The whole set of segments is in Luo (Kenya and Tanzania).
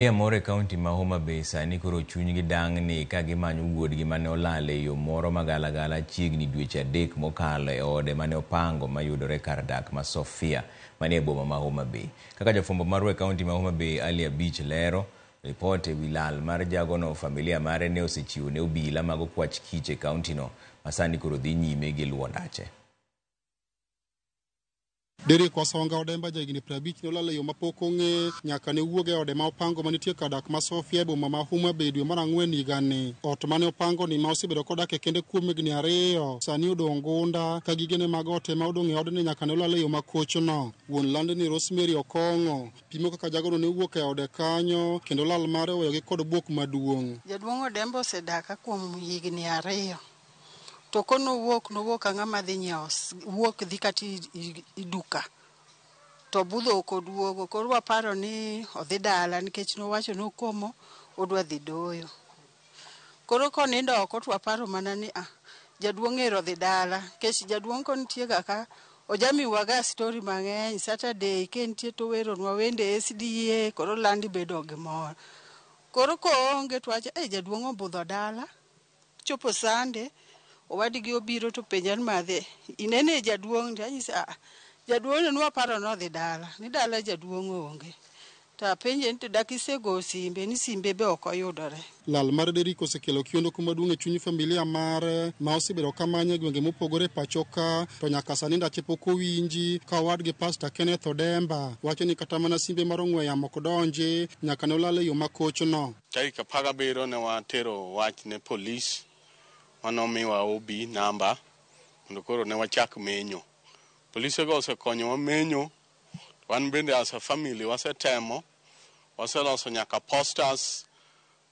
Familia moro e kaunti ma Homa Bay sani koro chunygi dang'ni ka gimanyo wuodgi mane olal e yo moro magalagala chiegni dweche adek mokalo e ode mane opango mayudore kar dak ma Sofia manie boma ma Homa Bay. Kaka jafwambo marwa e kaunti ma Homa Bay Ali Abich lero, ripot e wi lal mar jagono familia mare ne osechiwo ne obila mag okwach kich e kauntino masani koro dhi nyime gi luwo ndache. Derrick Wasonga Odemba jahigni prabich ne olal e yo mapok ong'e nyaka ne wuog e ode ma opango manitie kar dak ma Sofia e boma ma Homa Bay dwe mar ang'wen higani. Ot mane opangoni ma osebedo kodak e kende kuom higni ariyo sani odong' gunda ka gigene mag ot ema odong' e odni nyaka ne olal e yo makochno. Wuon landni Rosemary Okong'o pimo kaka jagono ne owuok e ode kanyo kendo lal mare oweyogi kod buok maduong'. Jaduong' Odemba osedaka kuom higni ariyo. To ko nowuok, nowuok ka ng'ama dhi nyiewo, wuok dhi kata i duka. To budho ok oduogo. Koro waparo ni odhi dala nikech nowacho ni okomo odwa dhi doyo. Koro konindo oko to waparo mana ni ah, jaduong' ero odhi dala. Nikech jaduong' konitie ga ka, ojamiwa ga story mang'eny. Saturday ka entie to oweronwa wende e SDA, koro land ibedo gi mor. Koro ko oonge to wawacho ni eh, jaduong' obudho dala. Chopo sande, owadgi obiro to penja ni madhe, inene jaduong' ndi? Anyise aa, jaduong' ne nwaparo nodhi dala, ni dala jaduong' onge. To apenje ni to dak isego simbe, ni simbe be ok oyudore. Lal mar Derrick osekelo kiondoko maduong' e chuny familia mare ma osebedo ka manye e gwenge mopogore e pachoka, to nyaka sani ndache pok owinji. Ka owadgi Pasta Kenneth Odemba wacho ni kata mana simbe mar ong'we yamo ok donji, nyaka ne olal e yo makochno. Tarik apar gabiriyo ne watero wach ne polis ma nomiwa OB namba mondo koro ne wachak menyo. Polisego osekonyowa menyo, to wan bende as a family wasetemo, waseloso nyaka posters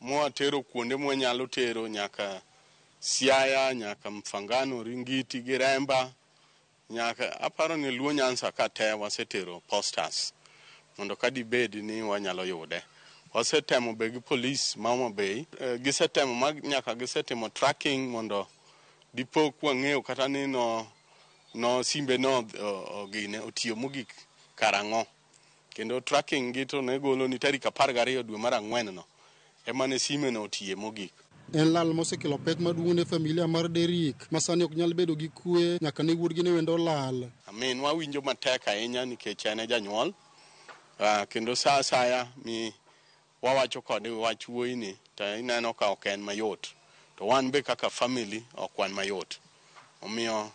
mwatero kuonde mwanyalo tero nyaka Siaya, nyaka Mfangano, Ringiti gi Remba. Nyaka aparo ni Luo Nyanza ka te wasetero posters mondo ka dibed ni wanyalo yude. Wasetemo be gi polis ma Homa Bay, eh, gisetemo ma nyaka gisetimo tracking mondo dipo kwa ng'eyo kata ni no, no simbe no ogine otiyo mogik karang'o. Kendo tracking gi to ne golo ni tarik apar gariyo dwe mar ang'wen no ema ne sime no otiye mogik. En lal mosekelo pek maduong' ne familia mar Derrick ma sani ok nyal bedo gi kwe nyaka ne wuodgi ne wendo olal. Minwa winjo matek ahinya nikech en e janyuol kendo saa asaya mi wawacho kode wach wuoyi ni to ineno ka ok en mayot to wan be kaka family ok wan mayot omiyo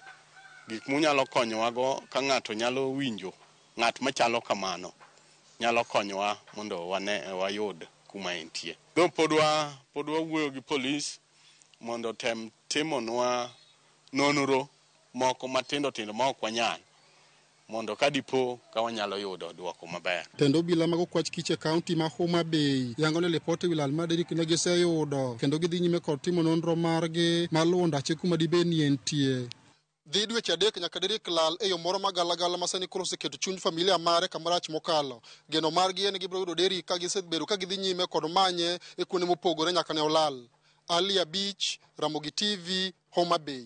gik munyalo konyowa go ka ng'ato nyalo winjo ng'at machalo kamano nyalo konyowa mondo wane wayud kuma entie. Though pod wa pod wawuoyo gi police mondo otem timonwa nonro moko matindo tindo ma ok wanyal. mondo ka dipo ka wanyalo yudo dwoko maber. Tend obila mag okwach kich e kaunti ma Homa Bay yango ni lipot e wi lal mar derikne giseyudo kendo gidhi nyime kod timo nonro margi mar luwo ndache kuma dibed ni entie. Dhi dweche adek nyaka dirik lal e yo moro ma galagala ma sani koro oseketo chuny familia mare kama rach mokalo. Geno margi en ni gibiro yudo Derrick ka gisebedo ka gidhi nyime kod manye e kuonde mopogore nyaka ne olal. Ali Abich, Ramogi TV, Homa Bay.